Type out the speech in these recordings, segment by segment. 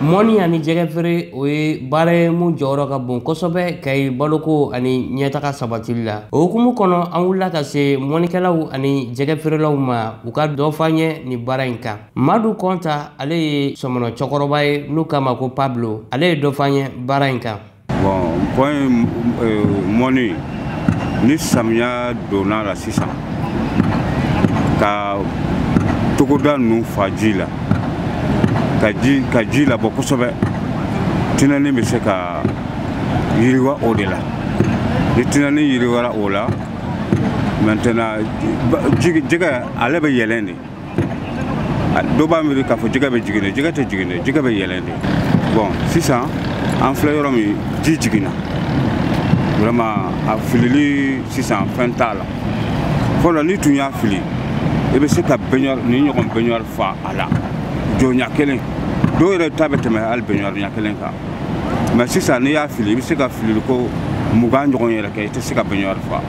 mɔni ani jɛgɛ feere o ye baara ye mun jɔyɔrɔ ka bon kosɛbɛ kayi baloko ani ɲɛtaga sabatili la o hukumu kɔnɔ an wulila ka se mɔnikɛlaw ani jɛgɛ feerelaw ma u ka dɔ f'an ye nin baara in kan madu kɔnta ale ye sɔmɔnɔ cɛkɔrɔba ye n'u k'a ma ko pablo ale ye dɔ f'an ye baara in kan bon pont euh, mɔni ni samiya donna la sisan ka togoda ninnu fa ji la ka ji ka ji labɔ kosɛbɛ tinɛni bɛ se ka yiriwa o de la ni tinɛni yiriwara o la maintenant jɛgɛ ale bɛ yɛlɛn de dɔ b'a miiri k'a fɔ jɛgɛ bɛ jigin de jɛgɛ tɛ jigin de jɛgɛ bɛ yɛlɛn de bon sisan an filɛ yɔrɔ min ji jiginna vraiment a filili sisan fɛn t'a la fɔlɔ n'i tun y'a fili i bɛ se ka baignoire nin ɲɔgɔn baignoire fa a la jɔ ɲɛ kelen dɔw yɛrɛ ta bɛ tɛmɛ hali baignoire ɲɛ kelen kan mais sisan n'i y'a fili i bɛ se ka filili ko mugan ɲɔgɔn yɛrɛ kɛ i tɛ se ka baignoire fa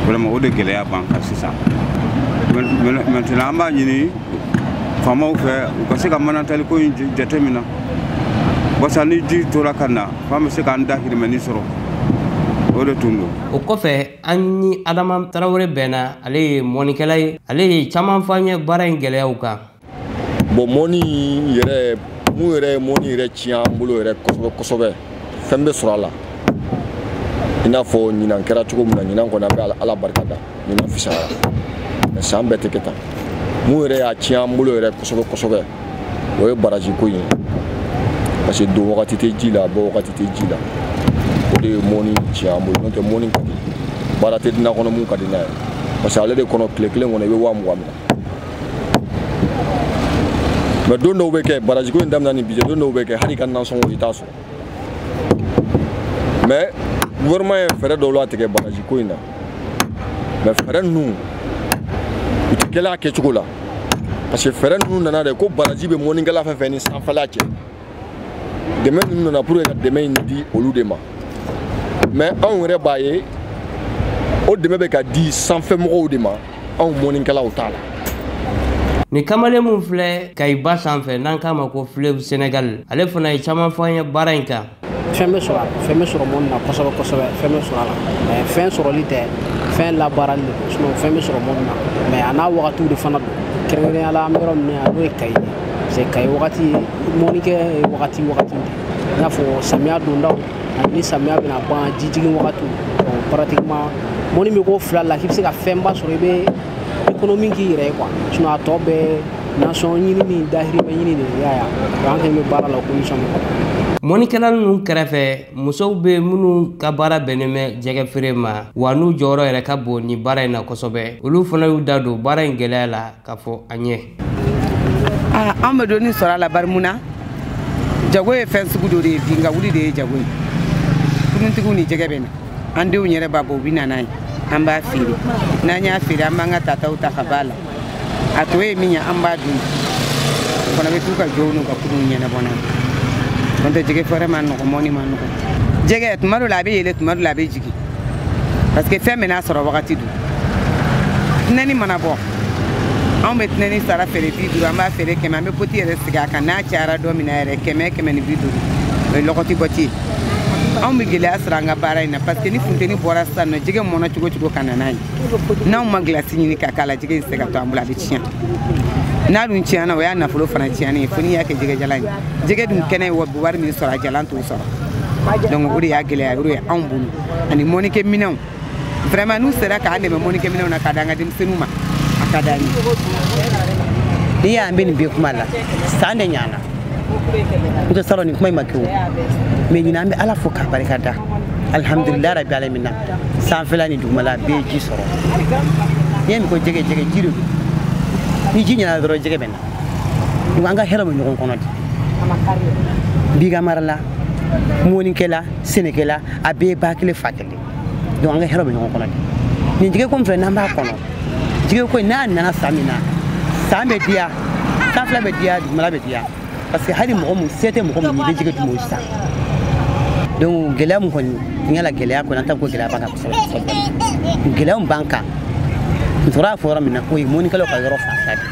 vraiment o de gɛlɛya b'an kan sisan maintenant an b'a ɲini faamaw fɛ u ka se ka manatali ko in jateminɛ wasa ni ji tora ka na fa an bɛ se k'an dahirimɛni sɔrɔ o de tun don o kɔfɛ an ni adama tarawele bɛnna ale ye mɔnikɛla ye ale ye caman fɔ an ye baara in gɛlɛyaw kan bon mɔni yɛrɛ mun yɛrɛ ye mɔni yɛrɛ tiɲɛ an bolo yɛrɛ kosɛbɛ kosɛbɛ fɛn bɛ sɔrɔ a la i n'a fɔ ɲinan kɛra cogo min na ɲinan kɔni an bɛ ala barika da ɲinan fisayara mais san bɛɛ tɛ kɛ tan mun yɛrɛ y'a tiɲɛ an bolo yɛrɛ kosɛbɛ kosɛbɛ o ye baraji ko ye parce que don wagati tɛ ji la bɔ wagati tɛ ji la o de ye mɔni tiɲɛ an bolo n'o tɛ mɔni ka di baara tɛ diɲɛ kɔnɔ mun ka di n'a ye parce que ale de kɔnɔ tile kelen kɔnɔ i bɛ waa mugan minɛ mais don dɔw bɛ kɛ baraji ko in daminɛ ni bi cɛ don dɔw bɛ kɛ hali i ka nansɔngɔ i t'a sɔrɔ mais gouvernement ye fɛɛrɛ dɔw latigɛ baraji ko in na mais fɛɛrɛ ninnu u tɛ kɛla a kɛcogo la parce que fɛɛrɛ ninnu nana de ko baraji bɛ mɔnikɛla fɛn fɛn ni sanfɛla cɛ dɛmɛ ninnu nana pour que ka dɛmɛ in di olu de ma mais anw yɛrɛ b'a ye o dɛmɛ bɛ ka di sanfɛmɔgɔw de ma anw mɔnikɛlaw t'a la nin kamalen min filɛ kayi ba sanfɛ n'an k'a ma ko fleuve sénégal ale fana ye caman fɔ an ye baara in kan fɛn bɛ sɔrɔ a la fɛn bɛ sɔrɔ mɔni na kosɛbɛ kosɛbɛ fɛn bɛ sɔrɔ a la mais fɛn sɔrɔli tɛ fɛn labaarali de don fɛn bɛ sɔrɔ mɔni na mais a n'a wagatiw de fana don kɛrɛnkɛrɛnnenya la an bɛ yɔrɔ min na n'o ye kayi ye se Kayi wagati mɔnikɛ ye wagati wagati de i n'a fɔ samiya dondaw ani ni samiya bɛna ban ji jigin wagatiw donc pratiquement mɔni bɛ k'o fila la k'i bɛ se ka fɛnba sɔrɔ i bɛ économie k'i yɛrɛ ye quoi sinon a tɔ bɛɛ nasɔn ɲini ni dahirimɛ ɲini de y'a ye an kɛlen bɛ baara la o condition min kɔnɔ mɔnikɛla ninnu kɛrɛfɛ musow bɛ minnu ka baara bɛnnen bɛ jɛgɛ feere ma wa n'u jɔyɔrɔ yɛrɛ ka bon nin baara in na kosɛbɛ olu fana y'u da don baara in gɛlɛya la k'a fɔ an ye ah, an bɛ dɔɔnin sɔrɔ a la bari mun na jago ye fɛn sugu dɔ de ye bin ka wuli de ye jago ye kuruntigiw ni jɛgɛ bɛ na an denw yɛrɛ b'a bɔ u bɛ na n'a ye an b'a feere n'an y'a feere an b'an ka tataw ta ka b'a la a tɔ ye min ye an b'a d'u ma u fana bɛ t'u ka jɔw n'u ka kurunw ɲɛnabɔ n'a ye n'o tɛ jɛgɛ feere man nɔgɔ mɔni man nɔgɔ jɛgɛ tuma dɔ la a bɛ yɛlɛ tuma dɔ la a bɛ jigin parce que fɛn bɛɛ n'a sɔrɔ wagati don tinɛni mana bɔ anw bɛ tinɛni sara feere bi duuru an b'a feere kɛmɛ an bɛ poti yɛrɛ sigi a kan n'a cayara don min na yɛrɛ kɛmɛ kɛmɛ ni bi duuru o ye lɔgɔti poti ye anw bɛ gɛlɛya sɔrɔ an ka baara in na parce que ni funteni bɔra sisan n'o jɛgɛ mɔnna cogo cogo ka na n'a ye n'anw ma gilasi ɲini ka k'a la jɛgɛ in tɛ se ka to an bolo a bɛ tiɲɛ n'a dun tiɲɛna o y'a nafolo fana tiɲɛnen ye fo n'i y'a kɛ jɛgɛjalan ye jɛgɛ dun kɛnɛ ye wari min sɔrɔ a jalan t'o sɔrɔ donc o de y'a gɛlɛya yɔrɔ ye anw bolo ani mɔnikɛ minɛnw vraiment n'u sera k'an dɛmɛ mɔnikɛminɛnw na ka di an ka denmisɛnninw ma a ka d'an ye n'i y'an bɛ nin bɛɛ kuma la san de ɲana n tɛ sɔrɔ nin kuma in ma kɛ o mais ɲinan an bɛ ala fo k'a barika da alhamdulilayi rabi alamina sanfɛla ni dugumala bɛɛ ye ji sɔrɔ n'i y'a mɛn ko jɛgɛ jɛgɛ ji de don ni ji ɲana dɔrɔn jɛgɛ bɛ na donc an ka hɛrɛ bɛ ɲɔgɔn kɔnɔ de biganmarala mɔnikɛla sɛnɛkɛla a bɛɛ ye ba kelen fa kelen donc an ka hɛrɛ bɛ ɲɔgɔn kɔnɔ de nin jɛgɛ ko min filɛ n'an b'a kɔnɔ jɛgɛ ko in n'a nana san min na san bɛ diya sanfɛla bɛ diya dugumala bɛ diya parce que hali mɔgɔ min se tɛ mɔgɔ min ye i bɛ jɛgɛ dun o san donc gɛlɛya min kɔni n yala gɛlɛya kɔni an t'a fɔ ko gɛlɛya b'an kan kosɛbɛ kosɛbɛ gɛlɛya min b'an kan n sɔrɔ y'a fɔ yɔrɔ min na o ye mɔnikɛlaw ka yɔrɔ fanfɛ de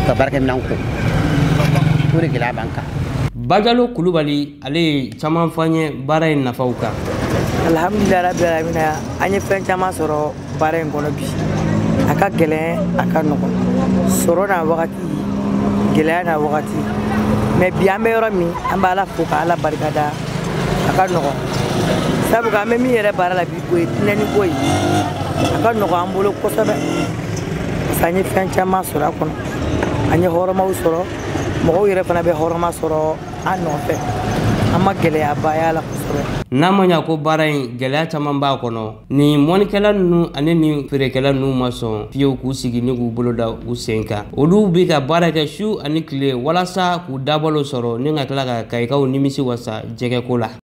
ka baarakɛminɛn ko o de gɛlɛya b'an kan bajalo kulubali ale ye caman fɔ an ye baara in nafaw kan alhamdulilayi rabi alamina an ye fɛn caman sɔrɔ baara in kɔnɔ bi a ka gɛlɛn a ka nɔgɔn sɔrɔ n'a wagati gɛlɛya n'a wagati mais bi an bɛ yɔrɔ min an bɛ ala fo ka ala barika da a ka nɔgɔn sabu an bɛ min yɛrɛ baara la bi o ye tinɛni ko ye a ka nɔgɔn an bolo kosɛbɛ parce que an ye fɛn caman sɔrɔ a kɔnɔ an ye hɔrɔmaw sɔrɔ mɔgɔw yɛrɛ fana bɛ hɔrɔma sɔrɔ an nɔfɛ an ma gɛlɛyaba y'a la kosɛbɛ n'a ma ɲa ko baara in gɛlɛya caman b'a kɔnɔ nin mɔnikɛla nunu ani nin feerekɛla nunu ma sɔn fiyew k'u sigi ni k'u bolo da u sen kan olu be ka baara kɛ su ani kile walasa k'u dabalo sɔrɔ ni ka tila ka kayikaw nimisi wasa jɛgɛko la